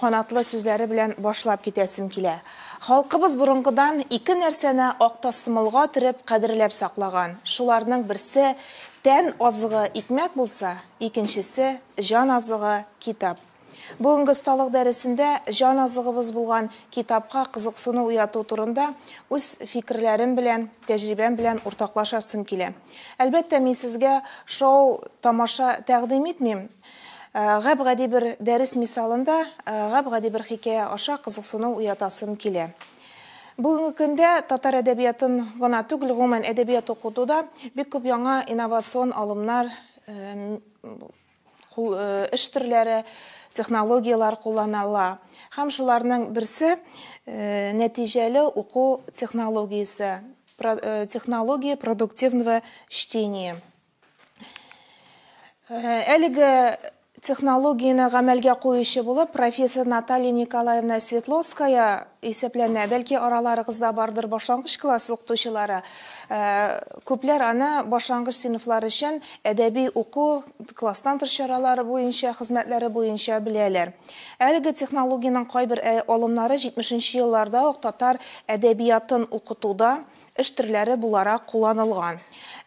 Канатлы сүзләре белән башлап китәсем килә. Халкыбыз борынгыдан ике нәрсәне актасымылга төреп кадерләп саклаган, шуларның берсе, тән азыгы, икмәк булса, икенчесе, җан азыгы, китап. Бүгенге осталык дәресендә җан азыгыбыз булган китапка кызыксыну уяту турында үз фикерләрем белән, тәҗрибәм белән уртаклашасым килә. Әлбәттә, мин сезгә шоу тамаша тәкъдим итмим, Гап-гади бер дәрес мисалында, гап-гади бер хикәя аша кызыксыну уятасым килә. Бүгенге көндә татар әдәбиятын гына түгел, гомумән әдәбият укытуда бик күп яңа инновацион алымнар, эш төрләре, технологияләр кулланыла. Һәм шуларның берсе, нәтиҗәле уку технологиясе, технология продуктивного чтения. Әлеге технологияне гамәлгә куючы булып профессор Наталья Николаевна Светловская исәпләнә. Бәлки араларыгызда бардыр башлангыч класс укытучылары. Күпләр аны башлангыч сыйныфлар өчен әдәби уку, класстан тыш чаралары буенча, хезмәтләре буенча беләләр. Әлеге технологиянең кайбер алымнары 70 нче елларда ук татар әдәбиятын укытуда, эш төрләре буларак кулланылган.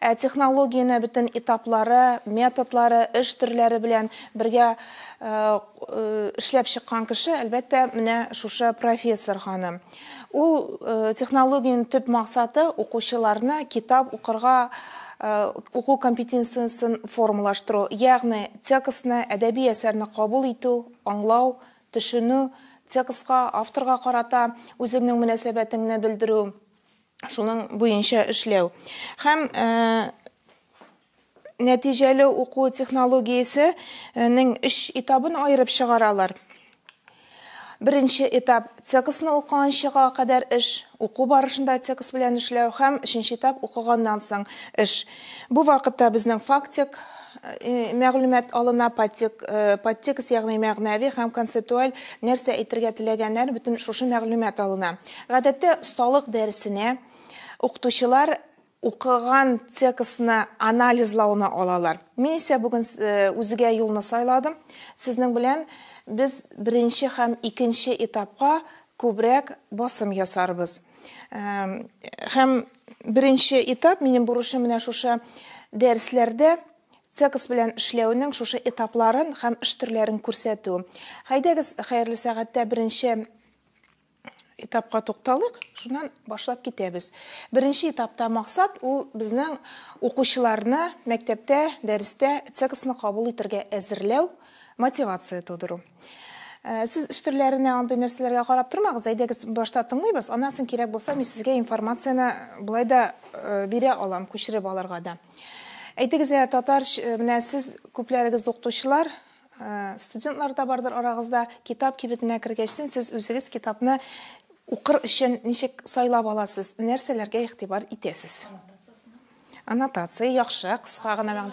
Ә технологияне бөтен этаплары, методлары, эш төрләре белән бергә эшләп чыккан кеше, әлбәттә, менә шушы профессор ханым. Ул технологиянең төп максаты, укучыларны китап укырга уку компетенциясен формалаштыру, ягъни текстны, әдәби әсәрне кабул итү, аңлау, Төшенү, текстка, авторга карата үзеңнең мөнәсәбәтеңне белдерү, шуның буенча эшләү. Һәм нәтиҗәле уку технологиясе нең өч этабын аерып чыгаралар. Беренче этап, текстны укыганчыга кадәр эш, уку барышында текст белән эшләү һәм өченче этап, укыганнан соң эш. Бу вакытта безнең фактик мәгълүмат алына, подтек, подтекст, ягъни мәгънәви һәм концептуаль нәрсә әйтергә теләгәннәр, бөтен шушы мәгълүмат алына. Гадәттә, осталык дәресенә укытучылар укыган текстны анализлауны алалар. Мин исә бүген үзгә юлны сайладым. Сезнең белән без беренче һәм икенче этапка күбрәк басым ясарбыз. Һәм беренче этап, минем бурычым менә шушы дәресләрдә цекс белән эшләүнең шушы этапларын һәм эш төрләрен күрсәтү. Хәйдәгез, хәерле сәгатьтә беренче этапка тукталыйк, шуннан башлап китәбез. Беренче этапта максат ул безнең укучыларны мәктәптә, дәрестә цексны кабул итәргә әзерләү, мотивация тудыру. Э, сез эш төрләренә андый нәрсәләргә карап тормагыз әйдәгез башта тыңлыйбыз аннан соң кирәк булса мин сезгә информацияне болай да э, бирә алам күчереп алырга да әйтегез ә татар э, менә сез күпләрегез укытучылар студентлар да бардыр арагызда китап кибетенә кергәчтен сез үзегез китапны укыр өчен ничек сайлап аласыз нәрсәләргә игътибар итәсез аннотация яхшы кыска гына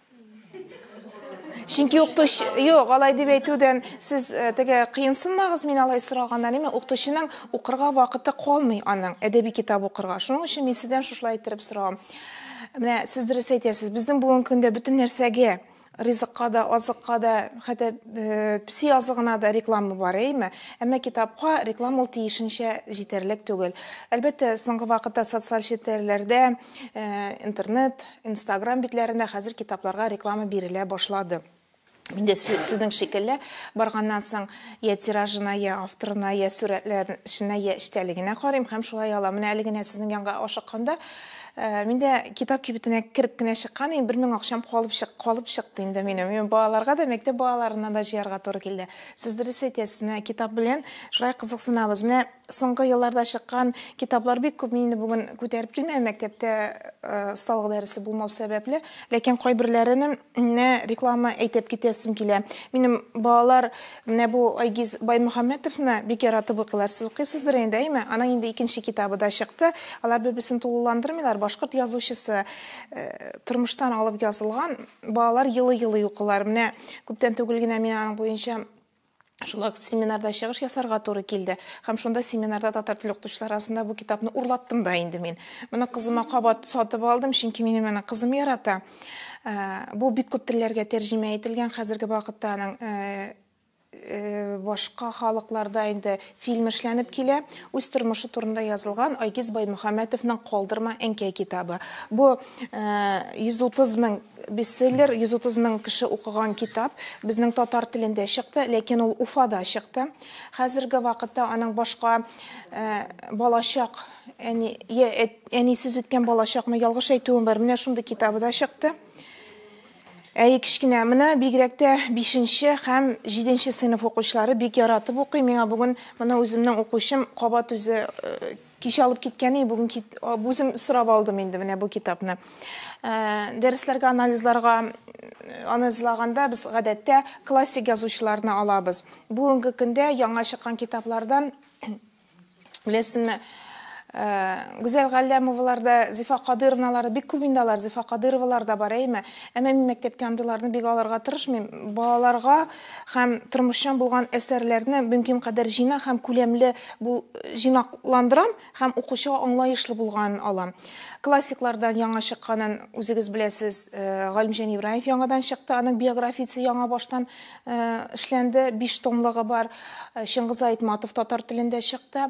Чөнки укытучы, юк, алай дип әйтүдән сез э, теге кыенсынмагыз мин алай сораганнан, әмма укытучының укырга вакыты калмый аның әдәби китап укырга. Шуның өчен мин сездән шушылай иттереп сорагам. Менә сез дөрес әйтәсез, безнең бүгенге көндә бөтен нәрсәгә ризыкка да, азыкка да, хәтта э, песи азыгына да реклама бар, әйме? Әмма китапка реклама ул тиешенчә җитәрлек түгел. Әлбәттә, соңгы вакытта социаль челтәрләрдә, э, интернет, Инстаграм битләрендә хәзер китапларга реклама бирелә башлады. Мин дә сезнең шикелле, барганнан соң я тиражына, я авторына, я сурәтләренә, я эчтәлегенә карыйм һәм шулай алам. Менә әле генә сезнең янга ашыкканда, мин дә китап кибетенә кереп кенә чыккан идем, бер мең акчам калып чык, калып чыкты инде минем. Мин балаларга да, мәктәп балаларына да җыярга туры килде. Сез дөрес әйтәсез, менә китап белән шулай кызыксынабыз. Менә Соңгы елларда чыккан китаплар бик күп, мин инде бүген күтәреп килмәм, мәктәптә осталык дәресе булмау сәбәпле, ләкин кайберләренең менә реклама әйтеп китәсем килә. Минем балалар менә бу Айгиз Баймөхәммәтовны бик яратып укыйлар. Сез укыйсыздыр инде, әйме? Аның инде икенче китабы да чыкты. Алар бер-берсен тулыландырмыйлар. Башкорт язучысы тормыштан алып язылган, балалар елый-елый укыйлар. Менә күптән түгел генә мин аның буенча Шулай ук семинарда чыгыш ясарга туры килде. Һәм шунда семинарда татар теле укытучылары арасында бу китапны урлаттым да инде мин. Моны кызыма кабат сатып алдым, чөнки минем моны кызым ярата. Э, бу бик күп телләргә тәрҗемә ителгән. Хәзерге вакытта аның э, э, башка халыкларда инде фильм эшләнеп килә. Үз тормышы турында язылган Айгиз Баймөхәммәтовның Калдырма әнкәй китабы. Бу 130 мең Бестселлер 130 мең кеше укыган китап безнең татар телендә чыкты, ләкин ул Уфада чыкты. Хәзерге вакытта аның башка балачак әни я әнисез үткән балачакмы, ялгыш әйтүем бар, менә шундый китабы да чыкты. Әй, кечкенә, менә бигрәк тә 5 нче һәм 7 нче сыйныф укучылары бик яратып укый. Миңа бүген моны үземнең укучым кабат үзе Кичә алып киткән и, бүген кит... а, үзем сорап алдым инде менә бу китапны. Ә, Дәресләргә, анализларга м, анализлаганда без гадәттә классик язучыларны алабыз. Бүгенге көндә яңа чыккан китаплардан беләсезме, ә, Гүзәл Галләмовалар да, Зифа Кадыровналар да бик күп инде алар, Зифа Кадыровалар да бар, әйеме? Әмма мин мәктәпкә андыйларны бик алырга тырышмыйм. Балаларга һәм тормышчан булган әсәрләрне мөмкин кадәр җыйна һәм күләмле бул җыйнакландырам һәм укучыга аңлаешлы булганын алам. Классиклардан яңа чыкканын үзегез беләсез, Галимҗан Ибраев яңадан чыкты, аның биографиясе яңа баштан эшләнде, биш томлыгы бар, Чыңгыз Айтматов татар телендә чыкты.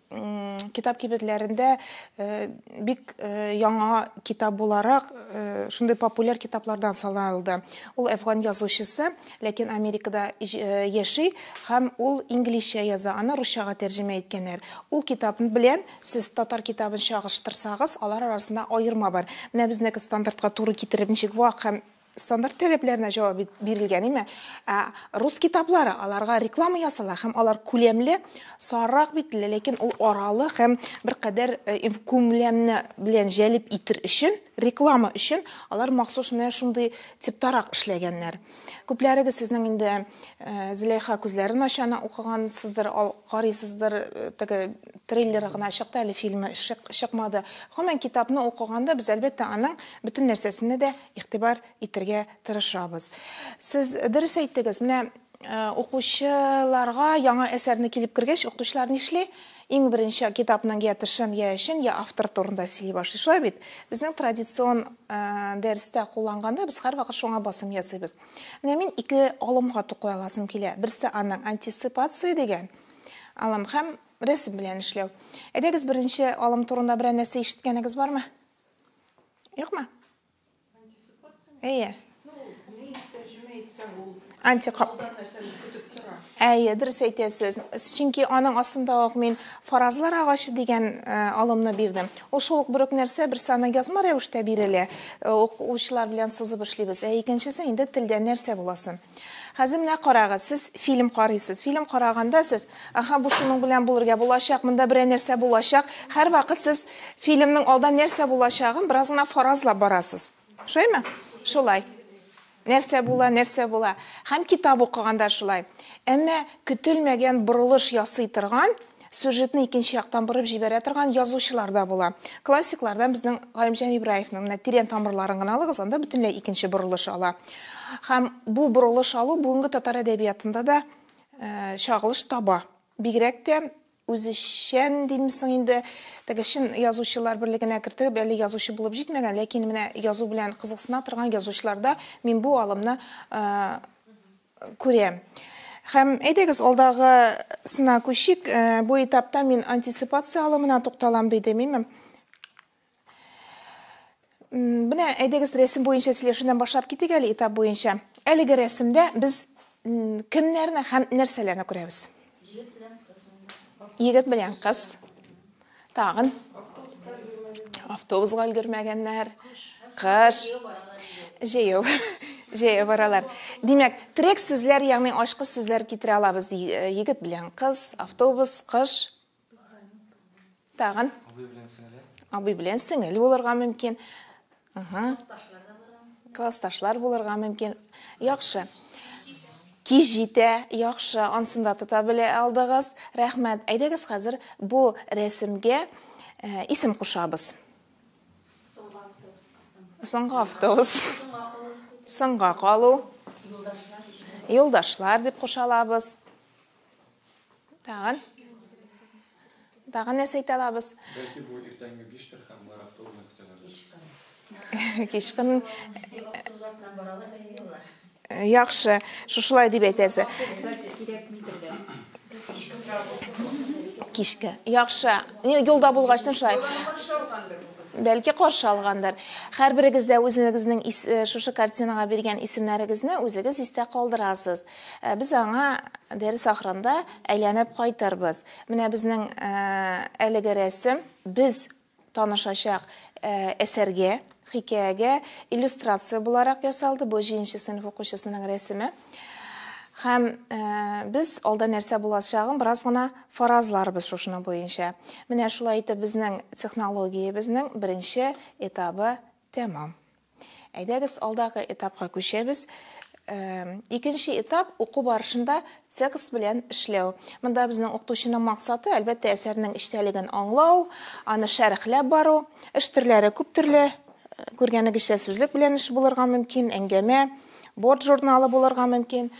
китап кибетләрендә бик яңа китап буларак шундый популяр китаплардан саналды. Ул әфган язучысы, ләкин Америкада яши һәм ул инглизчә яза, аны русчага тәрҗемә иткәннәр. Ул китап белән сез татар китабын чагыштырсагыз, алар арасында аерма бар. Менә безнеке стандартка туры китереп ничек вак һәм Стандарт таләпләренә җавап бит бирелгән име? Ә рус китаплары, аларга реклама ясала һәм алар күләмле, сарырак битле, ләкин ул аралы һәм бер кадәр э, инф- күләмне белән җәлеп итер өчен, реклама өчен алар махсус менә шундый типтарак эшләгәннәр. Күпләрегез сезнең инде э, Зөләйха күзләрен ачаны укыгансыздыр, ал- карыйсыздыр, э, теге трейлеры гына чыкты, әле фильмы чык- чыкмады. Гомумән, китапны укыганда без, әлбәттә, аның бөтен нәрсәсенә дә игътибар итергә тырышабыз. Сез дөрес әйттегез, менә укучыларга яңа әсәрне килеп кергәч, укытучылар нишли? Иң беренче китапның я тышын, я эчен, я автор турында сөйли башлый. Шулай бит? Безнең традицион дәрестә кулланганда без һәрвакыт шуңа басым ясыйбыз. Менә мин ике алымга туклай аласым килә. Берсе аның антисипация дигән алым һәм рәсем белән эшләү. Әйдәгез беренче алым турында берәр нәрсә ишеткәнегез бармы? Юкмы? Әйе. Антикап. Әйе, дөрес әйтәсез. Чөнки аның астында ук мин фаразлар агачы дигән э, алымны бирдем. Ул шул ук бер үк нәрсә, бер саны язма рәвештә бирелә. Э, Укучылар белән сызып эшлибез. Ә икенчесе инде телдә нәрсә буласын. Хәзер менә карагыз, сез фильм карыйсыз. Фильм караганда сез, аха, бу шуның белән булырга булачак, монда берәр нәрсә булачак. Һәрвакыт сез фильмның алда нәрсә булачагын бераз гына фаразлап барасыз. Шулаймы? Шулай. Нәрсә була, нәрсә була. Һәм китап укыганда шулай. Әмма көтелмәгән борылыш ясый торган сюжетны икенче яктан борып җибәрә торган язучылар да була. Классиклардан безнең Галимҗан Ибраевның менә тирән тамырларын гына алыгыз, анда бөтенләй икенче борылыш ала. Һәм бу борылыш алу бүгенге татар әдәбиятында да э, чагылыш таба. Бигрәк тә үзешчән димсең инде, теге чын язучылар берлегенә кертеп, әле язучы булып җитмәгән, ләкин менә язу белән кызыксына торган язучыларда мин бу алымны э, күрә. Һәм әйдәгез алдагы сына күчик. Э, бу этапта мин антисипация алымына тукталам, диде миме. Менә әйдәгез рәсем буенча сөйләшүдән башлап китик әле этап буенча. Әлеге рәсемдә без кемнәрне һәм нәрсәләрне күрәбез? Егет белән кыз. Тагын автобусга өлгермәгәннәр. Кыш. Җәяү. Җәяү баралар. Димәк, трек сүзләр, ягъни ашкы сүзләр китерә алабыз. Э, егет белән кыз, автобус, кыш. Тагын. Абый белән сеңел. Абый белән сеңел булырга мөмкин. Ага. Классташлар булырга мөмкин. Яхшы. Кич җитә, яхшы, ансында тота белә алдыгыз. Рәхмәт. Әйдәгез хәзер бу рәсемгә э, исем кушабыз. Соңгы автобус. Соңга калу. Юлдашлар дип кушалабыз. Тагын. Тагын нәрсә әйтә алабыз? Бәлки бу иртәнге 5 тер һәм бар автобусны көтәләр. Кичкын. Автобусатнан баралар әйелләр. Яхшы, шушылай дип әйтәсе. Кичке. Яхшы. Ни юлда булгач шулай. Бәлки каршы алгандыр. Һәрберегез дә үзегезнең шушы картинага биргән исемнәрегезне үзегез истә калдырасыз. Ә без аңа дәрес ахырында әйләнеп кайтырбыз. Менә безнең э, әлеге рәсем без танышачак э, әсәргә, хикәягә иллюстрация буларак ясалды. Бу җинче сыйныф укучысының рәсеме. Хәм э, без алда нәрсә булачагын бераз гына фаразларбыз шушына буенча. Менә шулай итеп безнең технологиябезнең беренче этабы Тәмам. Әйдәгез, алдагы этапка күчәбез. Икенче этап уку барышында текст белән эшләү. Монда безнең укытучының максаты, әлбәттә, әсәрнең эчтәлеген аңлау, аны шәрехләп бару. Эш төрләре күп төрле. Күргәнегезчә, сүзлек белән эш булырга мөмкин, әңгәмә, борт журналы булырга мөмкин.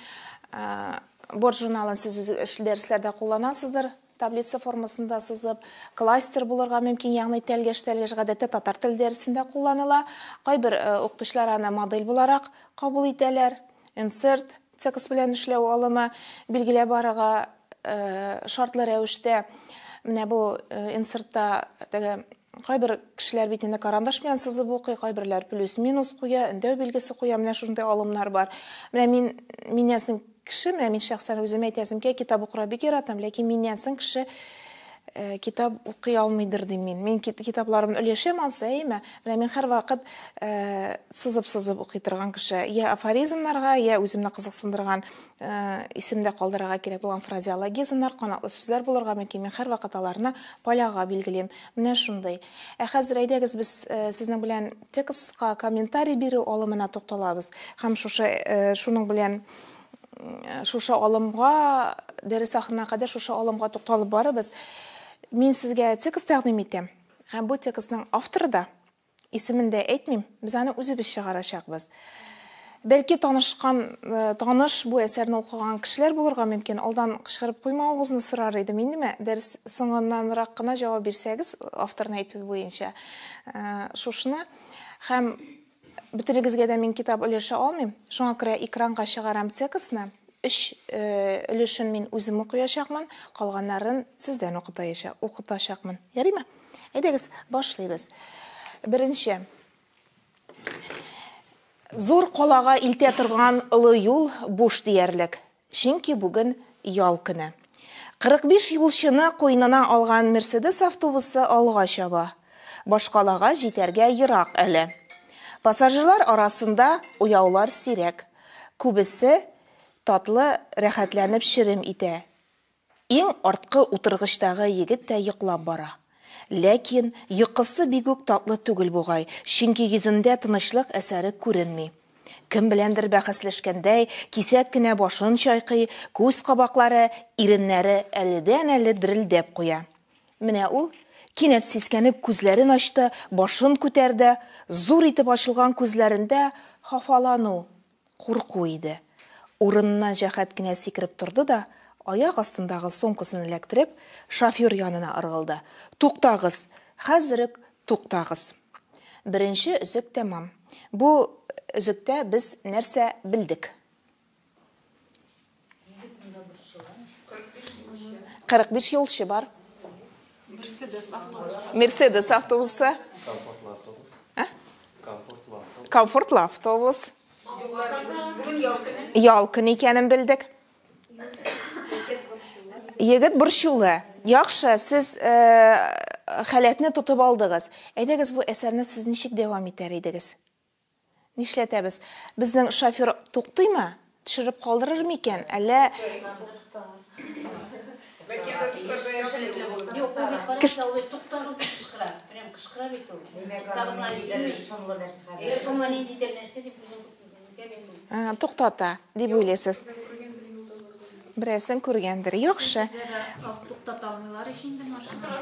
Борт журналын сез үз дәресләрдә кулланасыздыр. Таблица формасында сызып, кластер булырга мөмкин, ягъни тәлгәш-тәлгәш гадәттә татар теле дәресендә кулланыла. Кайбер укытучылар аны модель буларак кабул итәләр. Insert, текст белән эшләү алымы, билгеләп барырга шартлы рәвештә. Менә бу инсертта теге Кайбер кешеләр бит инде карандаш белән сызып укый, кайберләр плюс-минус куя, өндәү билгесе куя, менә шушындый алымнар бар. Менә мин миннән соң кеше, менә мин шәхсән үзем әйтәсем килә, китап укырга бик яратам, ләкин миннән соң кеше э, китап укый алмыйдыр дим мин. Мин кит, китапларымны өләшәм ансы, әйме? Менә мин һәрвакыт э, сызып-сызып укый торган кеше. Я афоризмнарга, я үземне кызыксындырган Э, исемдә калдырырга кирәк булган фразеологизмнар, канатлы сүзләр булырга мөмкин. Мин һәрвакыт аларны поляга билгелим. Менә шундый. Ә хәзер әйдәгез без э, сезнең белән текстка комментарий бирү алымына тукталабыз һәм шушы э, шуның белән шушы алымга дәрес ахырына кадәр шушы алымга тукталып барыбыз. Мин сезгә текст тәкъдим итәм. Һәм бу текстның авторы да Исемен дә әйтмим, без аны үзебез чыгарачакбыз. Бәлки танышкан, э, таныш бу әсәрне укыган кешеләр булырга мөмкин. Алдан кычкырып куймавыгызны сорар идем. Индеме? Дәрес соңыннанрак кына җавап бирсәгез, авторны әйтү буенча. Э, шушны һәм бөтенегезгә дә мин китап өләшә алмыйм. Шуңа күрә экранга чыгарам текстны. Өч э, өлешен мин үзем укыячакмын, калганнарын сездән укытаячакмын. Ярыймы? Әйдәгез, башлыйбыз. Беренче. Зур калага илтә торган олы юл буш диярлек. Чөнки бүген ял көне. 45 юлчыны куйнына алган Мерседес автобусы алга чаба. Башкалага җитәргә ерак әле. Пассажирлар арасында уяулар сирәк. Күбесе татлы рәхәтләнеп черем итә. Иң арткы утыргычтагы егет тә йоклап бара. Ләкин йокысы бигүк татлы түгел бугай, чөнки йөзендә тынычлык әсәре күренми. Кем беләндер бәхәсләшкәндәй, кисәк кенә башын чайкый, күз кабаклары, иреннәре әледән-әле дерелдәп куя. Менә ул, кинәт сискәнеп, күзләрен ачты, башын күтәрде, зур итеп ачылган күзләрендә хафалану, Курку иде. Урыныннан җәһәт кенә сикереп торды да, аяк астындагы сумкасын эләктереп, шофер янына ыргылды. Туктагыз! Хәзер үк туктагыз! Беренче өзек тәмам. Бу өзектә без нәрсә белдек? 45 юлчы бар. Мерседес автобусы. Мерседес автобусы. Комфортлы автобус. Ә? Комфортлы автобус. Комфортлы автобус. Ял көн икәнен белдек. Егет борчулы. Яхшы, сез э, халәтне тотып алдыгыз. Әйдәгез бу әсәрне сез ничек дәвам итәр идегез? Нишләтәбез? Безнең шофер туктыймы? Төшереп калдырыр микән, әллә? Туктата, дип уйлыйсыз. Берәрсен күргәндер. Яхшы. Туктата алмыйлар ич инде машина.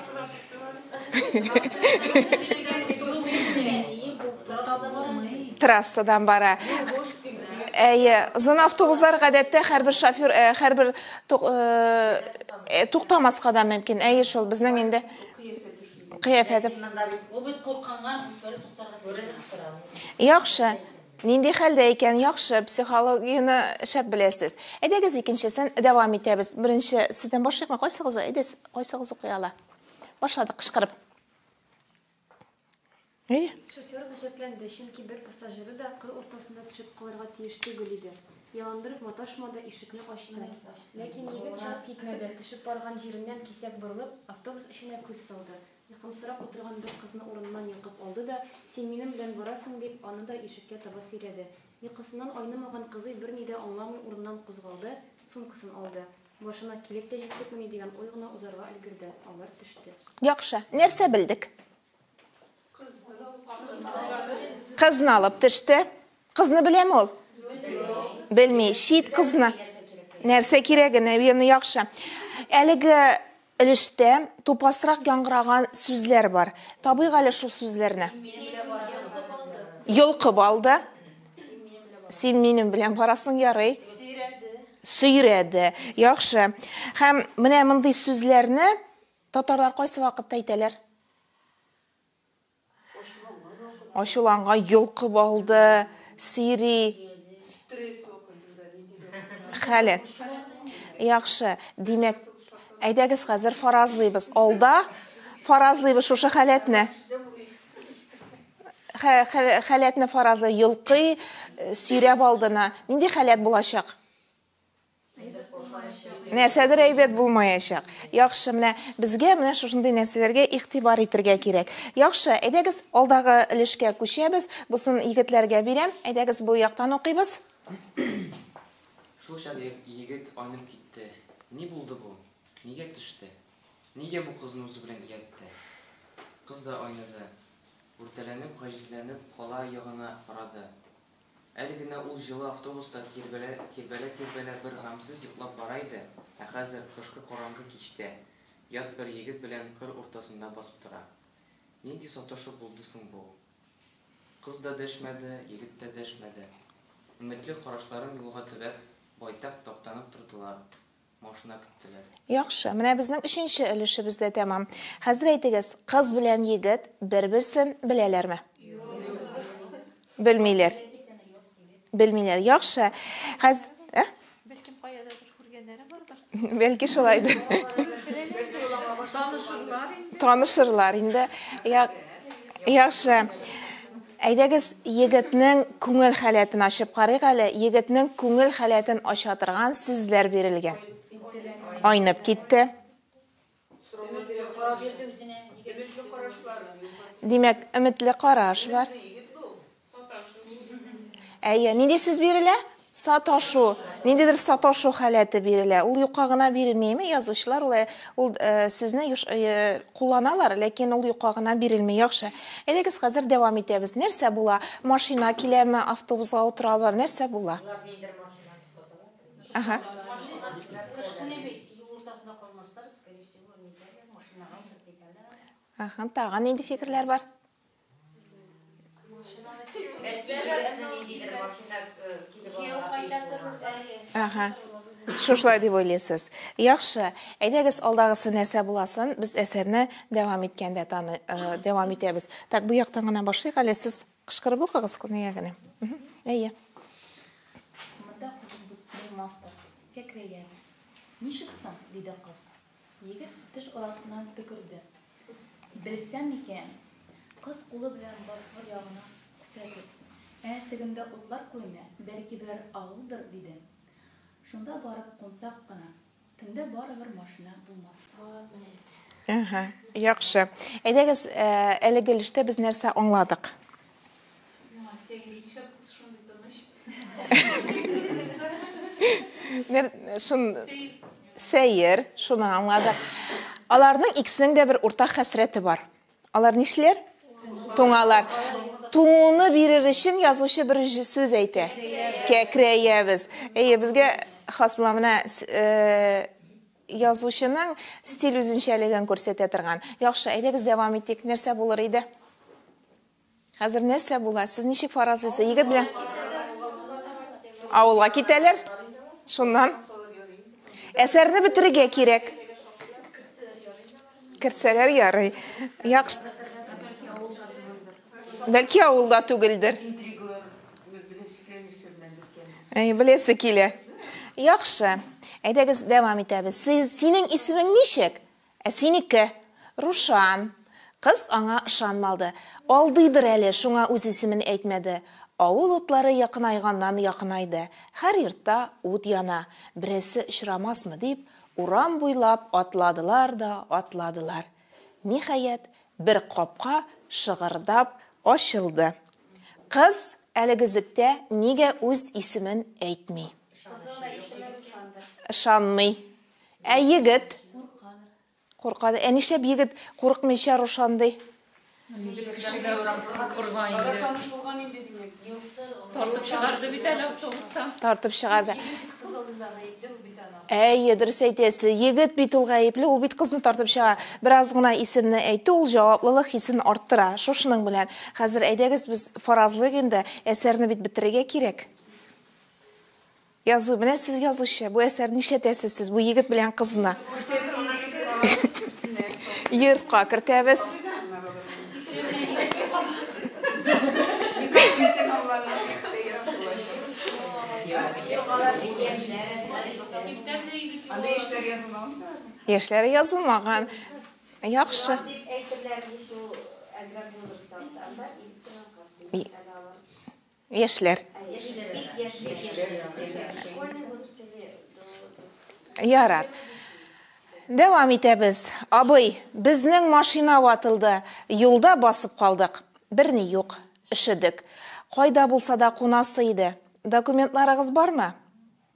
Трассадан бара. Әйе, зона автобуслар гадәттә һәрбер шофер, э, һәрбер э, э, туктамаска да мөмкин. Әйе, шул безнең инде кыяфәте. Яхшы. Нинди хәлдә икән, яхшы, психологияне шәп беләсез. Әйдәгез икенчесен дәвам итәбез. Беренче сездән башлыйкмы? Кайсыгыз, әйдәс, кайсыгыз укый ала? Башладык кычкырып. Әйе. Шофер гаҗәпләнде, чөнки бер пассажиры да кыр уртасында төшеп калырга тиеш түгел иде. Ялындырып маташмады, ишекне ачты. Ләкин егет чыгып китмәде, төшеп барган җиреннән кисәк борылып, автобус эченә күз салды. Йокымсырап утырган бер кызны урыныннан йолкып алды да, Син минем белән барасың, дип, аны да ишеккә таба сөйрәде. Йокысыннан айнымаган кызый берни дә аңламый урыныннан кузгалды, сумкасын алды. Башына килеп тә җиттекмени дигән уй гына узарга өлгерде, алар төште. Яхшы, нәрсә белдек? Кызны алып төште. Кызны беләме ул? Белми. Чит кызны. Нәрсә кирәге, наверное, яхшы. Әлеге Өлештә тупасрак яңгыраган сүзләр бар. Табыйк әле шул сүзләрне. Йолкып алды. Син минем белән барасың, ярый. Сөйрәде. Яхшы. Һәм менә мондый сүзләрне татарлар кайсы вакытта әйтәләр? Ачуланга йолкып алды, сөйри. Хәле. Яхшы, димәк, әйдәгез хәзер фаразлыйбыз. Алда фаразлыйбыз шушы халәтне. Халәтне фаразлый, йолкый, сөйрәп алдына. Нинди халәт булачак? Нәрсәдер әйбәт булмаячак. Яхшы, менә безгә менә шушындый нәрсәләргә игътибар итергә кирәк. Яхшы, әйдәгез алдагы өлешкә күчәбез. Бусын егетләргә бирәм. Әйдәгез бу яктан укыйбыз. Шул чак егет айнып китте. Ни булды бу? Нигә төште? Нигә бу кызны үзе белән ияртте? Кыз да айныды. Үртәләнеп, гаҗизләнеп, кала ягына карады. Әле генә ул җылы автобуста тирбәлә-тирбәлә бер гамьсез йоклап бара иде, ә хәзер, кышкы караңгы кичтә, ят бер егет белән кыр уртасында басып тора. Нинди саташу булды соң бу? Кыз да дәшмәде, егет тә дәшмәде. Өметле карашларын юлга төбәп, байтак таптанып тордылар. Машина көттеләр. Яхшы, менә безнең өченче өлешебез дә тәмам. Хәзер әйтегез, кыз белән егет бер-берсен беләләрме? Белмиләр. Белмиләр. Яхшы. Хәз... Ә? Бәлкем каядадыр күргәннәре бардыр. Бәлки шулайдыр. Танышырлар инде. Танышырлар инде. Яхшы. Әйдәгез, егетнең күңел халәтен ачып карыйк әле, егетнең күңел халәтен ача торган сүзләр бирелгән. Айнып китте. Димәк, өметле караш бар. Әйе, нинди сүз бирелә? Саташу, ниндидер саташу халәте бирелә. Ул юкка гына бирелмейме? Язучылар ул, ул э, сүзне юш, э, кулланалар, ләкин ул юкка гына бирелми. Яхшы. Әйдәгез хәзер дәвам итәбез. Нәрсә була? Машина киләме? Автобусга утыралар. Нәрсә була? Ага. Ага, тагын нинди фикерләр бар? Ага. Шушылай дип уйлыйсыз. Яхшы. Әйдәгез, алдагысы нәрсә буласын, без әсәрне дәвам иткәндә таны, э, дәвам итәбез. Так, бу яктан гына башлыйк әле. Сез кычкырып укыгыз күнегә генә. Әйе. Монда кулын бутный мастер. Кәкрәябез. Ничек соң? диде кыз. Егет теш арасыннан төкерде. Белсәм икән! Кыз кулы белән бозгыр ягына күрсәтеп, Ә тегендә утлар күренә, бәлки берәр авылдыр, диде. Шунда барып кунсак кына, төндә барыбер машина булмас. Әһә, яхшы. Әйдәгез, әлеге өлештә без нәрсә аңладык? Настя Ильича кыз шундый тыныч. Мер шун сәер, шуны аңладык. Аларның икесенең дә бер уртак хәсрәте бар. Алар нишләр? Туңалар. Туңуны бирер өчен язучы бер сүз әйтә. Кәкрәябез. Әйе, безгә хас була менә э, Язучының стиль үзенчәлеген күрсәтә торган. Яхшы, әйдәгез дәвам итик. Нәрсә булыр иде? Хәзер нәрсә була? Сез ничек фаразлыйсыз? Егет белән авылга китәләр. Шуннан әсәрне бетерергә кирәк. Керсәләр ярый. Яхшы. Бәлки авылда түгелдер. Әй, беләсе килә. Яхшы. Әйдәгез, дәвам итәбез. Сез, синең исемең ничек? Ә синеке? Рушан. Кыз аңа ышанмалды. Алдыйдыр әле, шуңа үз исемен әйтмәде. Авыл утлары якынайганнан-якынайды. Һәр йортта ут яна. Берәрсе очрамасмы дип, Урам буйлап атладылар да атладылар. Ниһаять, бер капка шыгырдап ачылды. Кыз әлегөзектә нигә үз исемен әйтми. Кызның да исеме Рушандыр. Ышанмый. Ә егет? Куркадыр. Куркадыр. Ә нишләп егет курыкмыйча Рушан ди? Тартып чыгарды. Әйе, дөрес әйтәсе. Егет бит ул гаепле, ул бит кызны тартып чыга. Бераз гына исемне әйтте, ул җаваплылык хисен арттыра. Шушының белән. Хәзер әйдәгез без фаразлыйк инде, әсәрне бит бетерергә кирәк. Язу, менә сез язучы, бу әсәр нишәтәсез сез бу егет белән кызны? Йортка кертәбез. Яшьләре язылмаган. Яхшы. Яшьләр. Ярар. Дәвам итәбез. Абый, безнең машина ватылды, юлда басып калдык. Берни юк. Өшедек. Кайда булса да кунасы иде. Документларыгыз бармы?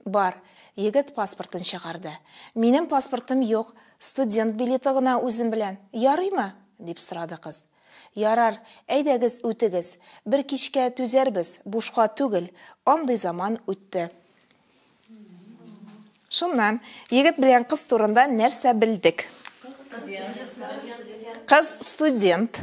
Бар. Егет паспортын чыгарды. Минем паспортым юк, студент билеты гына үзем белән. Ярыймы? дип сорады кыз. Ярар, әйдәгез үтегез. Бер кичкә түзәрбез, бушка түгел, андый заман үтте. Шуннан, егет белән кыз турында нәрсә белдек? Кыз студент.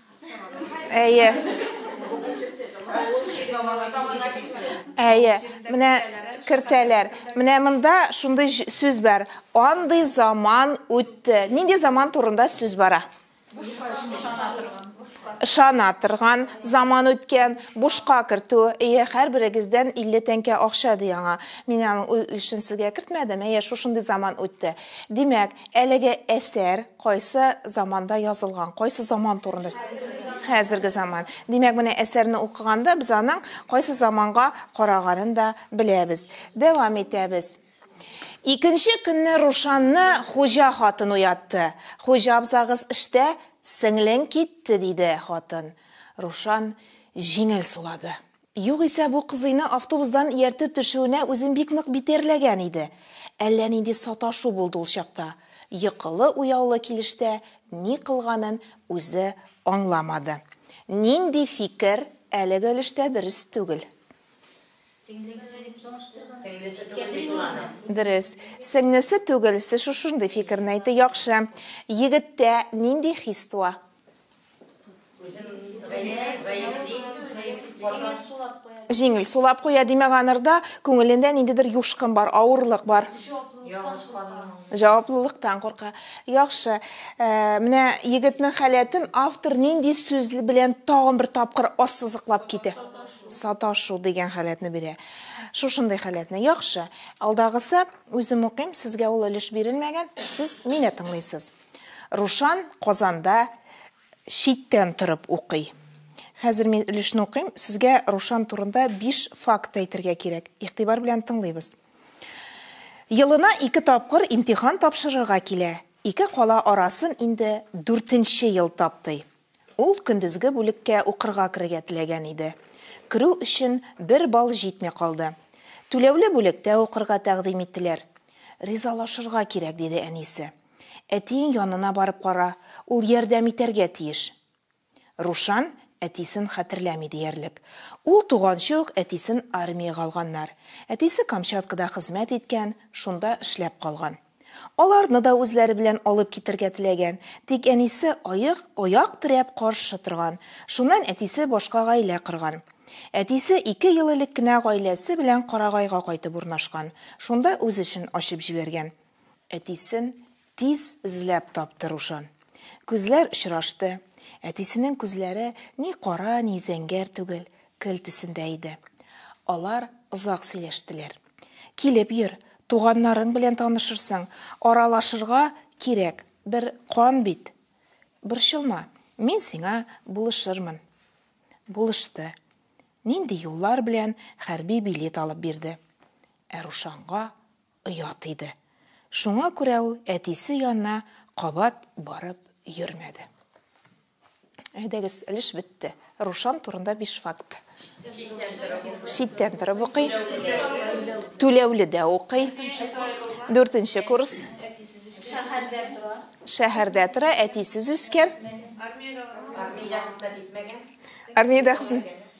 Әйе. Әйе. Менә кертәләр. Менә монда шундый сүз бар. Андый заман үтте. Нинди заман турында сүз бара? Шана торган заман үткән, бушка кертү. Әйе, һәрберегездән 50 тәңкә акча ди аңа. Мин аның өлешен сезгә кертмәдем. Әйе, шушындый заман үтте. Димәк, әлеге әсәр Кайсы заманда язылган? Кайсы заман турында? Хәзерге заман. Димәк, менә әсәрне укыганда без аның кайсы заманга караганын да беләбез. Дәвам итәбез. Икенче көнне Рушанны хуҗа хатын уятты. Хуҗа абзагыз эштә, сеңлең китте, диде хатын. Рушан җиңел сулады. Югыйсә бу кызыйны автобусдан ияртеп төшүенә үзен бик нык битәрләгән иде. Әллә нинди саташу булды ул чакта. Йокылы-уяулы килештә ни кылганын үзе аңламады. Нинди фикер, әлеге өлештә дөрес түгел. Сеңлесе дип чагыштырган. Сеңлесе түгел бит ул аның. Дөрес. Сеңлесе түгелсе шушындый фикерне әйтте. Яхшы. Егеттә нинди хис туа? Җиңел сулап куя, димәк, анырда күңелендә ниндидер юшкын бар, авырлык бар. Җаваплылыктан курка. Яхшы. Э, менә егетнең халәтен автор нинди сүз белән тагын бер тапкыр ассызыклап китә? Саташу дигән халәтне бирә. Шушындый халәтне. Яхшы. Алдагысы үзем укыйм, сезгә ул өлеш бирелмәгән, сез мине тыңлыйсыз. Рушан Казанда читтән торып укый. Хәзер мин өлешне укыйм, сезгә Рушан турында биш факт әйтергә кирәк. Игътибар белән тыңлыйбыз. Елына ике тапкыр имтихан тапшырырга килә, ике кала арасын инде дүртенче ел таптый. Ул көндезге бүлеккә укырга керергә теләгән иде. Керү өчен бер балл җитми калды. Түләүле бүлектә укырга тәкъдим иттеләр. Ризалашырга кирәк, диде әнисе. Әтиең янына барып кара, ул ярдәм итәргә тиеш. Рушан әтисен хәтерләми диярлек. Ул туганчы ук әтисен армиягә алганнар. Әтисе Камчаткада хезмәт иткән, шунда эшләп калган. Аларны да үзләре белән алып китергә теләгән, тик әнисе аек, аяк терәп каршы торган. Шуннан әтисе башка гаилә корган. Әтисе ике ел элек кенә гаиләсе белән Карагайга кайтып урнашкан, шунда үз эшен ачып җибәргән. Әтисен тиз эзләп тапты Рушан. Күзләр очрашты. Әтисенең күзләре ни кара, ни зәңгәр түгел, көл төсендә иде. Алар озак сөйләштеләр. Килеп йөр, туганнарың белән танышырсың, аралашырга кирәк, бер кан бит. Борчылма, мин сиңа булышырмын. Булышты. Нинди юллар белән хәрби билет алып бирде. Ә Рушанга оят иде. Шуңа күрә ул әтисе янына кабат барып йөрмәде. Әйдәгез, өлеш бетте. Рушан турында биш факт. Читтән торып укый. Түләүле дә укый. Дүртенче курс. Шәһәрдә тора, әтисез үскән. Армиядә хезмәт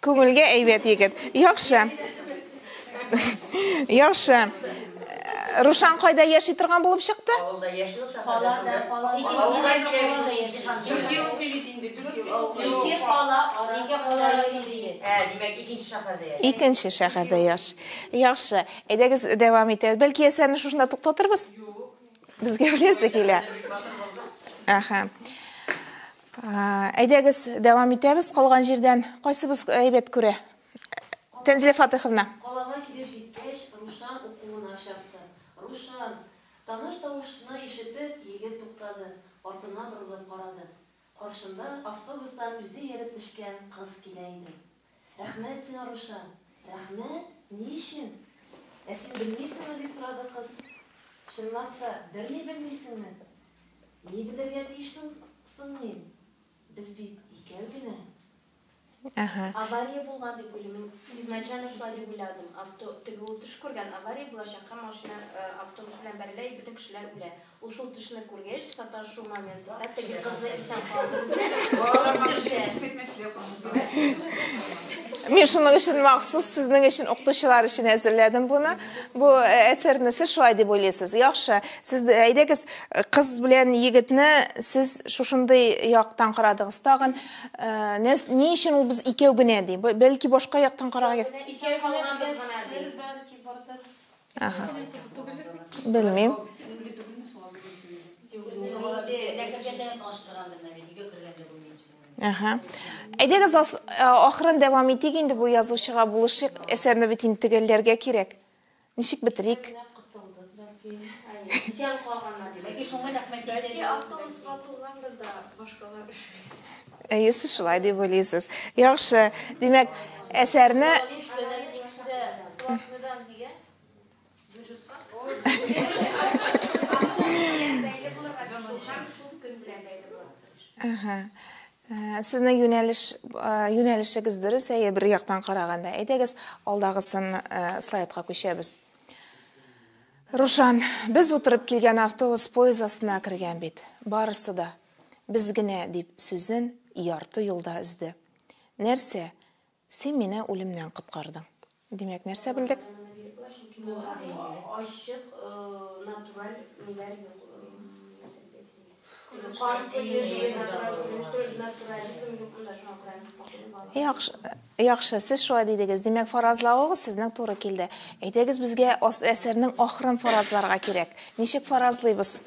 Күңелгә әйбәт егет. Яхшы. Яхшы. Рушан кайда яши торган булып чыкты? Авылда яши ул шәһәрдә түгел. Икенче шәһәрдә яши. Яхшы. Әйдәгез дәвам итәбез. Бәлки яшьләрне шушында туктатырбыз? Безгә беләсе килә. Әһә. Әйдәгез, дәвам итәбез калган җирдән. Кайсыбыз әйбәт күрә? Тәнзилә Фатыйховна. Калага килеп җиткәч, Рушан укуына чапты. Рушан! Таныш тавышны ишетеп, егет туктады, артына борылып карады. Каршында автобустан үзе йөреп төшкән кыз килә иде. Рәхмәт сиңа, Рушан! Рәхмәт? Ни өчен? Ә син белмисеңме? дип сорады кыз. Чынлап та, берни белмисеңме? Ни белергә тиеш соң мин? Без бит икәү генә. Әһә. Авария булган дип уйлыйм. Мин изначально шулай дип уйладым. Авто, теге ул төш күргән, авария булачак һәм машина автобус белән бәрелә и бөтен кешеләр үлә. Ул шул төшне күргәч, саташу моментында теге кызны исән калдыру белән алып төшә. Мин шуның өчен махсус сезнең өчен укытучылар өчен әзерләдем буны. Бу э, әсәрне сез шулай дип уйлыйсыз. Яхшы, сез әйдәгез э, кыз белән егетне сез шушындый яктан карадыгыз. Тагын э, ни өчен ул без икәү генә ди? Бәлки башка яктан карарга. Икәү генә дигән сер бәлки бардыр. Ага. Белмим. Ага. Әйдәгез ахырын дәвам итик инде бу язучыга булышыйк. Әсәрне бит инде төгәлләргә кирәк. Ничек бетерик? Сиан калганнар. Бәлки шуңа рәхмәт әйтә. Бәлки автобуска тулгандыр да башкалар өшегән. Әйе, сез шулай дип уйлыйсыз. Яхшы. Димәк, әсәрне Сезнең юнәлеш юнәлешегез дөрес, әйе, бер яктан караганда. Әйдәгез, алдагысын слайдка күчәбез. Рушан, без утырып килгән автобус поезд астына кергән бит. Барысы да. Без генә, дип сүзен ярты юлда өзде. Нәрсә, син мине үлемнән коткардың. Димәк, нәрсә белдек? Ачык, натураль ниләр юк. Яхшы, сез шулай дидегез. Димәк, фаразлавыгыз сезнең туры килде. Әйдәгез, безгә әсәрнең ахырын фаразларга кирәк. Ничек фаразлыйбыз?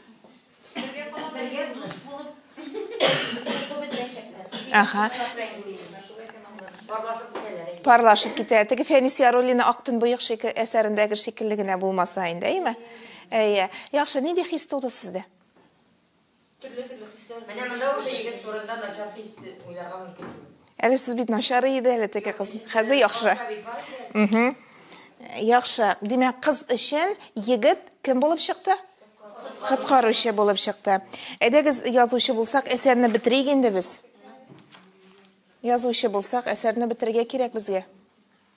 Ага. Парлашып китә. Теге Фәнис Яруллина Актын буйык шикелле әсәрендәге шикелле генә булмаса инде, әйме? Әйе. Яхшы, нинди хис туды сездә? Төрле-төрле хисләр. Менә монда уже егет турында начар хис уйларга мөмкин. Әле сез бит начар иде әле теге кыз. Хәзер яхшы. Угу. Яхшы. Димәк, кыз өчен егет кем булып чыкты? Коткаручы булып чыкты. Әйдәгез язучы булсак, әсәрне бетерик инде без. Язучы булсак, әсәрне бетерергә кирәк безгә.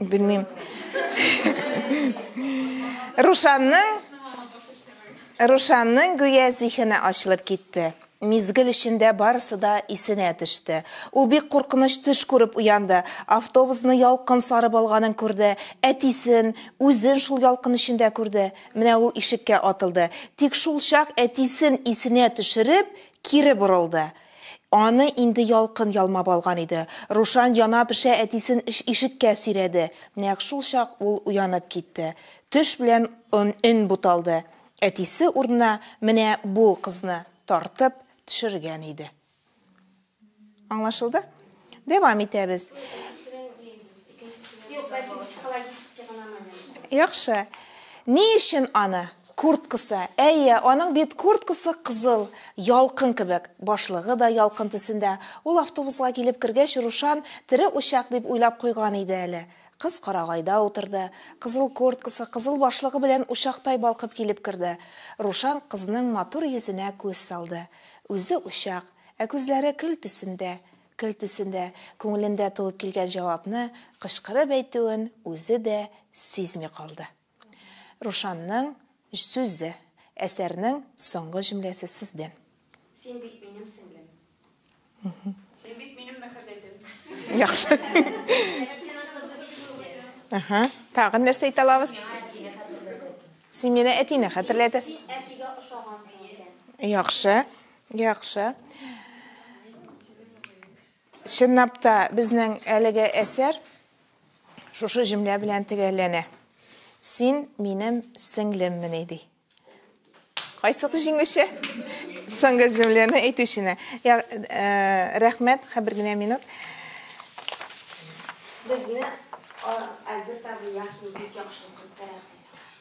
Белмим. Рушанның Рушанның гүя зихене ачылып китте. Мизгел эчендә барысы да исенә төште. Ул бик куркыныч төш күреп уянды. Автобусны ялкын сарып алганын күрде. Әтисен, үзен шул ялкын эчендә күрде. Менә ул ишеккә атылды. Тик шул чак әтисен исенә төшереп, кире борылды. Аны инде ялкын ялмап алган иде. Рушан яна-пешә әтисен ишеккә сөйрәде. Нәкъ шул чак ул уянып китте. Төш белән өн буталды. Әтисе урынына менә бу кызны тартып төшергән иде. Аңлашылды? Дәвам итәбез. Юк, бәлки психологический гына момент. Яхшы. Ни өчен аны? Курткасы. Әйе, аның бит курткасы кызыл, ялкын кебек. Башлыгы да ялкын төсендә. Ул автобуска килеп кергәч, Рушан тере учак дип уйлап куйган иде әле. Кыз карагайда утырды. Кызыл курткасы, кызыл башлыгы белән учактай балкып килеп керде. Рушан кызның матур йөзенә күз салды. Үзе учак, ә күзләре көл төсендә. Келтесендә, күңелендә туып килгән җавапны кычкырып әйтүен үзе дә сизми калды. Рушанның сүзе, әсәрнең соңгы җөмләсе сездән. Син бит минем сеңлем. Син бит минем мәхәббәтем. Яхшы. Син синең кызы бит инде. Әһә. Тагын нәрсә әйтә алабыз? Син мине әтине хәтерләтәсең. Син әтигә ошагансың икән. Яхшы. Яхшы. Чынлап та безнең әлеге әсәр шушы җөмлә белән төгәлләнә. Син минем сеңлеммени ди. Кайсык җиңүче? Соңгы җөмләне әйтүчене. Я, э, рәхмәт, хәбер генә минут. Безне Альберт абый яхи бик яхшы укып бирә.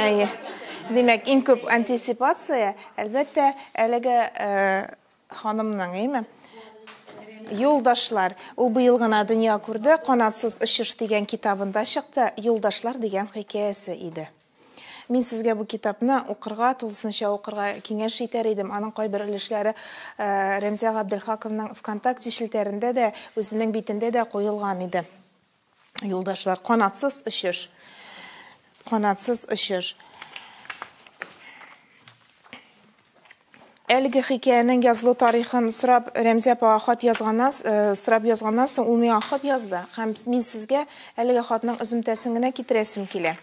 Әйе. Димәк, иң күп антисипация, әлбәттә, әлеге ханымның, әйме? Юлдашлар. Ул быел гына дөнья күрде, Канатсыз очыш дигән китабында чыкты, Юлдашлар дигән хикәясе иде. Мин сезгә бу китапны укырга, тулысынча укырга киңәш итәр идем. Аның кайбер өлешләре Рәмзия Габделхаковның ВКонтакте челтәрендә дә, үзенең битендә дә куелган иде. Юлдашлар, канатсыз очыш. Канатсыз очыш. Әлеге хикәянең язылу тарихын сорап Рәмзә апага хат язганнан, э, сорап язганнан соң ул миңа хат язды һәм мин сезгә әлеге хатның өземтәсен генә китерәсем килә.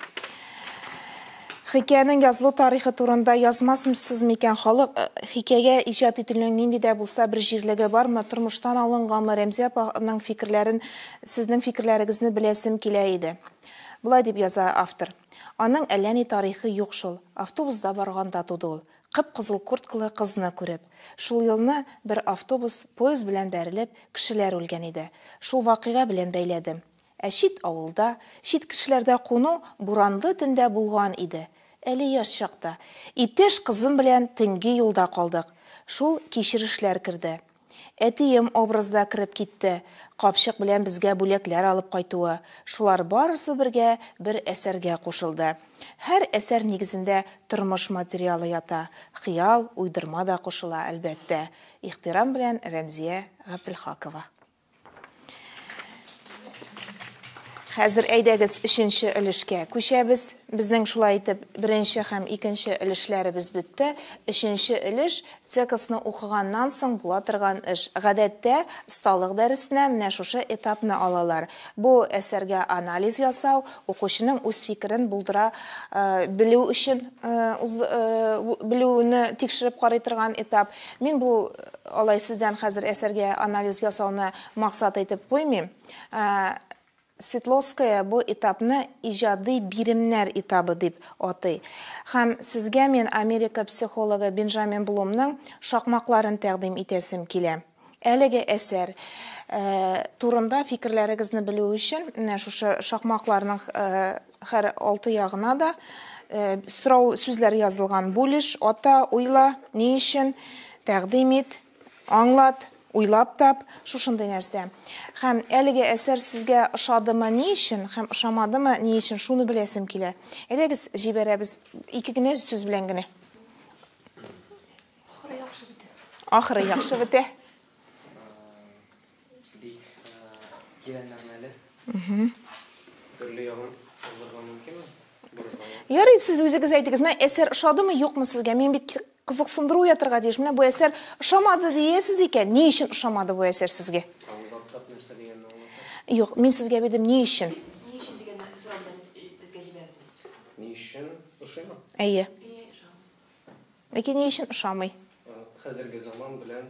Хикәянең язылу тарихы турында язмасмсыз микән, халык хикәягә иҗат ителүнең нинди дә булса бер җирлеге бармы, тормыштан алынгамы, Рәмзия апаның фикерләрен, сезнең фикерләрегезне беләсем килә иде. Болай дип яза автор, Аның әллә ни тарихы юк шул, автобузда барганда туды ул, кып-кызыл курткалы кызны күреп. Шул елны бер автобус, поезд белән бәрелеп, кешеләр үлгән иде. Шул вакыйга белән бәйләдем. Ә чит авылда, чит кешеләрдә куну буранлы төндә булган иде, әле яшь чакта. Иптәш кызым белән төнге юлда калдык. Шул кичерешләр керде. Әтием образы да кереп китте, капчык белән безгә бүләкләр алып кайтуы, шулар барысы бергә бер әсәргә кушылды. Һәр әсәр нигезендә тормыш материалы ята, хыял, уйдырма да кушыла, әлбәттә. Ихтирам белән, Рәмзия Габделхакова. Хәзер әйдәгез өченче өлешкә күчәбез. Безнең шулай итеп беренче һәм икенче өлешләребез бетте. Өченче өлеш цекосны укыганнан соң була торган эш. Гадәттә, осталык дәресенә менә шушы этапны алалар. Бу әсәргә анализ ясау, укучының үз фикерен булдыра белү өчен белүне тикшереп карый торган этап. Мин бу Алай сездән хәзер әсәргә анализ ясауны максат итеп куймыйм. Светловская бу этапны иҗади биремнәр этабы дип атый. Һәм сезгә мин Америка психологы Бенжамин Блумның шакмакларын тәкъдим итәсем килә. Әлеге әсәр турында фикерләрегезне белү өчен, менә шушы шакмакларның Хәр алты ягына да сорау сүзләр язылган. Бүлеш, ата, уйла, ни өчен, тәкъдим ит, аңлат, уйлап тап, шушындый нәрсә. Һәм әлеге әсәр сезгә ошадымы, ни өчен, һәм ошамадымы, ни өчен, шуны беләсем килә. Әйдәгез, җибәрәбез ике генә сүз белән генә. Ахыры яхшы бетә. Ахыры яхшы бетә. Бик тирән мәгънәле. Төрле ягын алырга мөмкинме? Ярый, сез үзегез әйтегез, менә әсәр ошадымы, юкмы сезгә? Мин бит кызыксындыру уятырга тиеш. Менә бу әсәр ошамады диясез икән, ни өчен ошамады бу әсәр сезгә? Юк, мин сезгә бирдем, ни өчен? Ни өчен дигән сорау белән безгә җибәрде. Ни өчен ошыймы? Әйе. Ләкин ни өчен ошамый? Хәзерге заман белән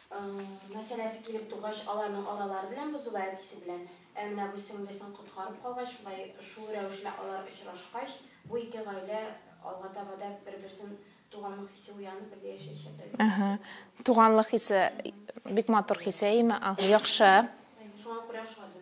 мәсьәләсе килеп тугач, аларның аралары белән бозыла әтисе белән. Ә менә бу сеңлесен коткарып калгач, шулай шул рәвешле алар очрашкач, бу ике гаилә алга таба да бер-берсен туганлык хисе уянып бергә яшәячәкләр дип Әһә. исәплим. Туганлык хисе бик матур хис, әйеме? Ага, яхшы. Шуңа күрә ошады.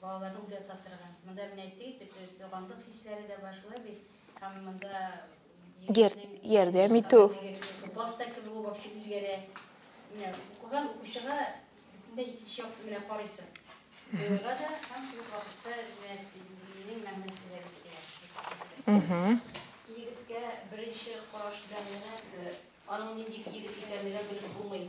Балаларны уйлататырга. Монда менә әйттегез бит, туганлык хисләре дә бар, шулай бит? Һәм монда Гер, ярдәм итү. Класста кебек ул вообще үзгәрә. Менә укыган укучыга бөтенләй икенче як менә карыйсың. Уйга да һәм шул вакытта менә минем мәгънәсе дә бит килә. Егеткә беренче караш белән генә аның нинди егет икәнлеген белеп булмый.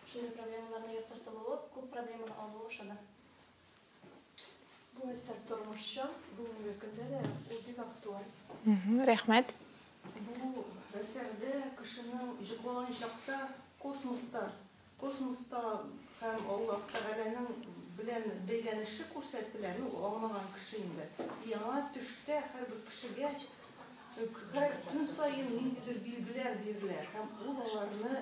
Шундый проблемаларны яктыртылуы, күп проблеманы алуы ошады. Бу әсәр тормышчан, бүгенге көндә дә ул бик актуаль. Рәхмәт. Бу әсәрдә кешенең җыклыган чакта космоста, космоста һәм Аллаһ Тәгаләнең белән бәйләнеше күрсәтелә. Ну, аңлаган кеше инде. Яңа төштә һәрбер кешегә һәр көн саен ниндидер билгеләр бирелә һәм ул аларны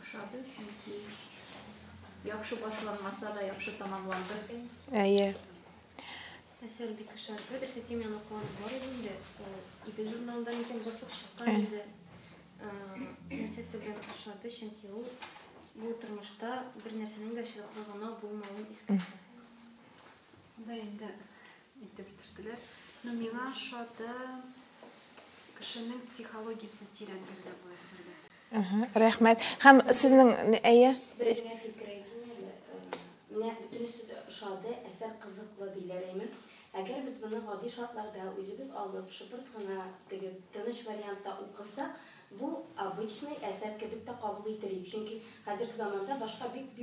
Ошады, чөнки яхшы башланмаса да яхшы тамамланды. Әйе. Әсәр бик ошады. Берсе теманы куанып бар иде инде. Идел журналында микән дуслык чыккан иде. Нәрсәсе белән ошады, чөнки ул бу тормышта бер нәрсәнең дә чыдаклы гына булмавын искәртә. Да инде итеп бетерделәр. Но миңа ошады кешенең психологиясе тирәнлеге бу әсәрдә. Рәхмәт. Һәм сезнең әйе? Безгә фикер әйтүне менә бөтенесе дә ошады, әсәр кызыклы диләр әйме. Әгәр без моны гади шартларда үзебез алып, шыпырт кына теге тыныч вариантта укысак, бу обычный әсәр кебек тә кабул итер идек. Чөнки хәзерге заманда башка бик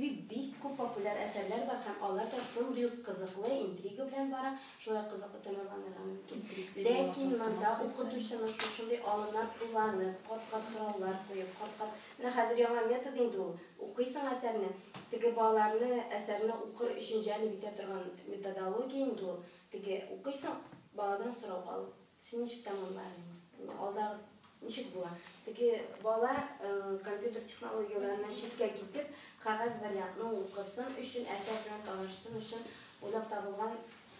күп популяр әсәрләр бар һәм алар да шундый ук кызыклы, интрига белән бара. Шулай кызыклы тәмамланырга мөмкин. Ләкин монда укытучының шушындый алымнар кулланып, кат-кат сораулар куеп, кат-кат, менә хәзер яңа метод инде ул, укыйсың әсәрне, теге балаларны әсәрне укыр өчен җәлеп итә торган методология инде ул, теге укыйсың, баладан сорау алып. Син ничек тәмамладың? Алдагы ничек була? Теге бала компьютер технологияләреннән читкә китеп, кәгазь вариантны укысын өчен, әсәр белән танышсын өчен уйлап табылган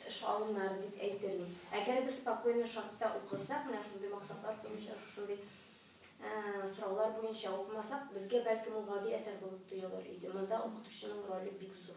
эш алымнары дип әйтермен. Әгәр без спокойно шартта укысак, менә шундый максатлар буенча, шушындый сораулар буенча укымасак, безгә, бәлкем, ул гади әсәр булып тоелыр иде. Монда укытучының роле бик зур.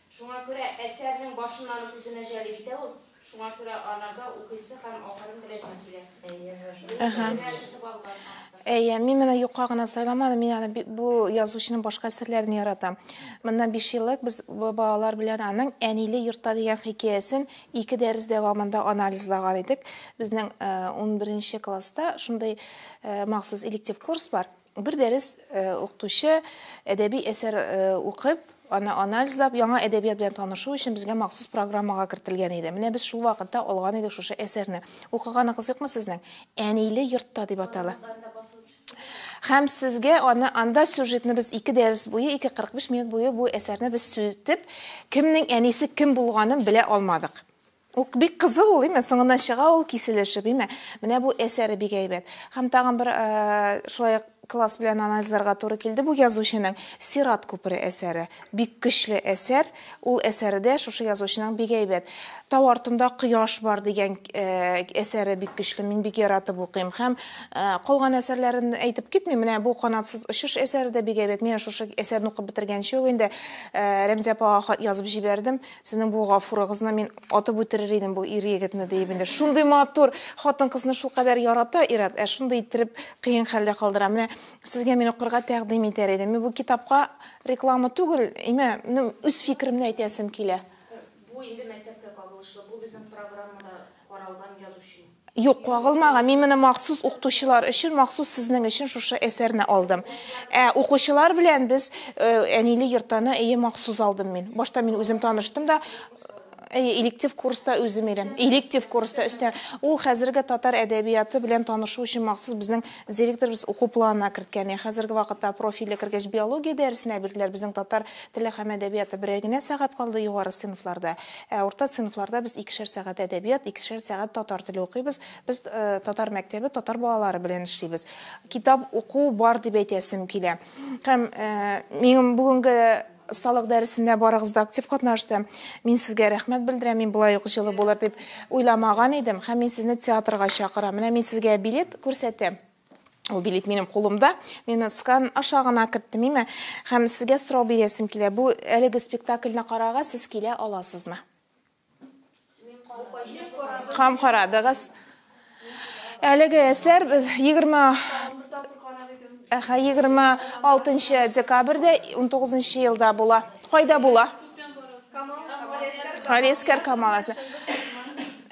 Шуңа күрә әсәрнең башыннан ук үзенә җәлеп итә ул, шуңа күрә анарда укыйсы һәм ахырын беләсе килә. Ул кешеләр тотып алган автор. Әйе, мин моны юкка гына сайламадым, мин аны бик, бу язучының башка әсәрләрен яратам. Моннан биш еллык без балалар белән аның Әниле йортта дигән хикәясен ике дәрес дәвамында анализлаган идек. Безнең унберенче класста шундый махсус электив курс бар. Бер дәрес укытучы әдәби әсәр укып, аны анализлап, яңа әдәбият белән танышу өчен безгә махсус программага кертелгән иде. Менә без шул вакытта алган идек шушы әсәрне. Укыганыгыз юкмы сезнең? Әниле йортта дип атала. Һәм сезгә аны анда сюжетны без ике дәрес буе, 2.45 минут буе бу әсәрне без сүтеп, кемнең әнисе кем булганын белә алмадык. Ук бик кызыл ул, име? Соңыннан чыга ул киселешеп, име? Менә бу әсәре бик әйбәт. Һәм тагын бер шулай ук класс белән анализларга туры килде бу язучының Сират күпере әсәре. Бик көчле әсәр. Ул әсәре дә шушы язучының бик әйбәт. Тау артында кояш бар дигән әсәре бик көчле. Мин бик яратып укыйм. Һәм калган әсәрләрен әйтеп китмим. Менә бу канатсыз очыш әсәре дә бик әйбәт. Мин шушы әсәрне укып бетергәнче үк инде Рәмзия апага хат язып җибәрдем. Сезнең бу гафурыгызны мин атып үтерер идем бу ир егетне диеп инде. Шундый матур хатын кызны шулкадәр ярата ират, ә шундый иттереп кыен хәлдә калдыра. Менә сезгә мин укырга тәкъдим итәр идем. Мин бу китапка реклама түгел, имә, ну, үз фикеремне әйтәсем килә. Бу инде мәктәпкә кагылышлы, бу безнең программада каралган язучы. Юк, кагылмаган. Мин менә махсус укытучылар өчен, махсус сезнең өчен шушы әсәрне алдым. Ә укучылар белән без э, Әниле йортаны әйе махсус алдым мин. Башта мин үзем таныштым да, Әйе, электив курста үзем ирем. Электив курста өстә. Ул хәзерге татар әдәбияты белән танышу өчен махсус безнең директорыбыз уку планына керткән. Ә хәзерге вакытта профильле кергәч биология дәресенә бирделәр. Безнең татар Теле һәм әдәбияты берәр генә сәгать калды югары сыйныфларда. Ә урта сыйныфларда без икешәр сәгать әдәбият, икешәр сәгать татар теле укыйбыз. Без татар мәктәбе, татар балалары белән эшлибез. Китап уку бар дип әйтәсем килә. Һәм минем бүгенге осталык дәресендә барыгыз да актив катнашты. Мин сезгә рәхмәт белдерәм. Мин болай ук җылы булыр дип уйламаган идем. Һәм мин сезне театрга чакырам. Менә мин сезгә билет күрсәтәм. Ул билет минем кулымда. Мин скан аша гына керттем име. Һәм сезгә сорау бирәсем килә. Бу әлеге спектакльне карарга сез килә аласызмы? Һәм карадыгыз. Әлеге әсәр 20 Әхә 26 декабрьдә 19 елда була. Кайда була? Галескәр Камаласында.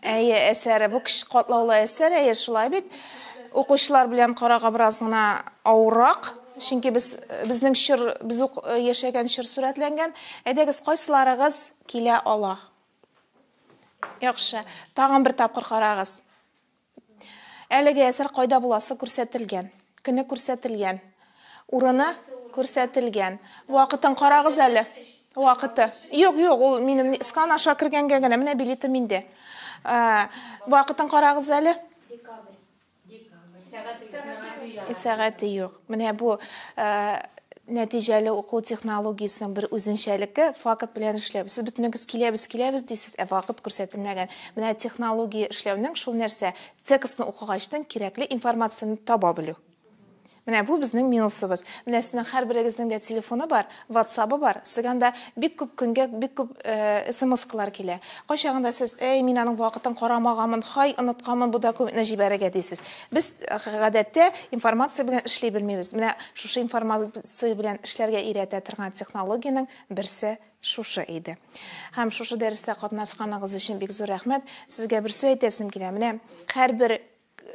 Әйе, әсәре. Бу кеше катлаулы әсәр, әйе, шулай бит. Укучылар белән карага бераз гына авыррак, чөнки без безнең чор, без ук яшәгән чор сурәтләнгән. Әйдәгез, кайсыларыгыз килә ала? Яхшы. Тагын бер тапкыр карагыз. Әлеге әсәр кайда буласы күрсәтелгән? Көне күрсәтелгән. Урыны күрсәтелгән. Вакытын карагыз әле. Вакыты. Юк, юк, ул минем скан аша кергәнгә генә менә билетым инде. Ә, вакытын карагыз әле. Декабрь. Декабрь. Сәгате. Сәгате юк. Менә бу ә, нәтиҗәле уку технологиясенең бер үзенчәлеке факт белән эшләү. Сез бөтенегез киләбез, киләбез дисез, ә вакыт күрсәтелмәгән. Менә технология эшләүнең шул нәрсә, текстны укыгачтан кирәкле информацияне таба белү. Менә бу безнең минусыбыз. Менә сезнең һәрберегезнең дә телефоны бар, ватсабы бар. Сезгә анда бик күп көнгә бик күп смс-калар килә. Кайчагында сез, әй, мин аның вакытын карамаганмын, һай, онытканмын бу документны җибәрергә, дисез. Без, гадәттә, информация белән эшли белмибез. Менә шушы информация белән эшләргә өйрәтә торган технологиянең берсе шушы иде. Һәм шушы дәрестә катнашканыгыз өчен бик зур рәхмәт. Сезгә бер сүз әйтәсем килә. Менә һәрбер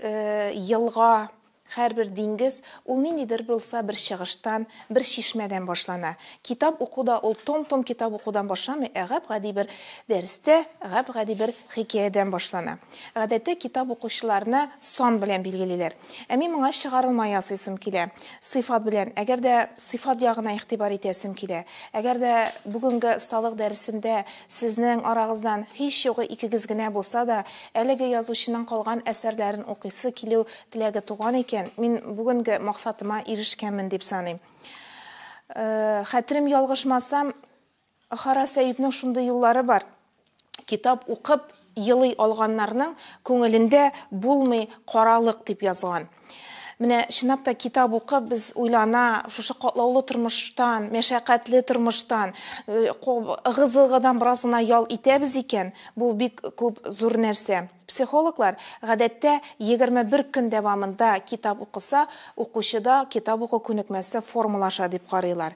елга, һәрбер диңгез, ул ниндидер булса бер чыгыштан, бер чишмәдән башлана. Китап уку да ул том-том китап укудан башламый, ә гап-гади бер дәрестә, гап-гади бер хикәядән башлана. Гадәттә, китап укучыларны сан белән билгелиләр. Ә мин моңа чыгарылма ясыйсым килә. Сыйфат белән. Әгәр дә сыйфат ягына игътибар итәсем килә. Әгәр дә бүгенге осталык дәресендә сезнең арагыздан һич югы икегез генә булса да, әлеге язучының калган әсәрләрен укыйсы килү теләге туган икән, мин бүгенге максатыма ирешкәнмен дип саныйм. Хәтерем ялгышмасам, Хара Сәипнең шундый юллары бар, китап укып елый алганнарның күңелендә булмый каралык, дип язган. Менә чынлап та китап укып без уйлана, шушы катлаулы тормыштан, мәшәкатьле тормыштан, ыгы-зыгыдан бераз гына ял итәбез икән, бу бик күп зур нәрсә. Психологлар, гадәттә, егерме бер көн дәвамында китап укыса, укучыда китап уку күнекмәсе формалаша дип карыйлар.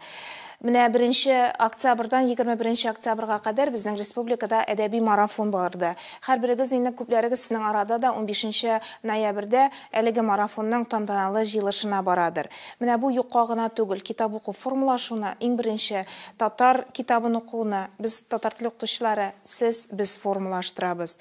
Менә беренче октябрьдан егерме беренче октябрьга кадәр безнең республикада әдәби марафон барды. Һәрберегез инде, күпләрегез сезнең арада да унбишенче ноябрьдә әлеге марафонның тантаналы җыелышына барадыр. Менә бу юкка гына түгел, китап уку формалашуны, иң беренче татар китабын укуны без, татар теле укытучылары, сез, без формалаштырабыз.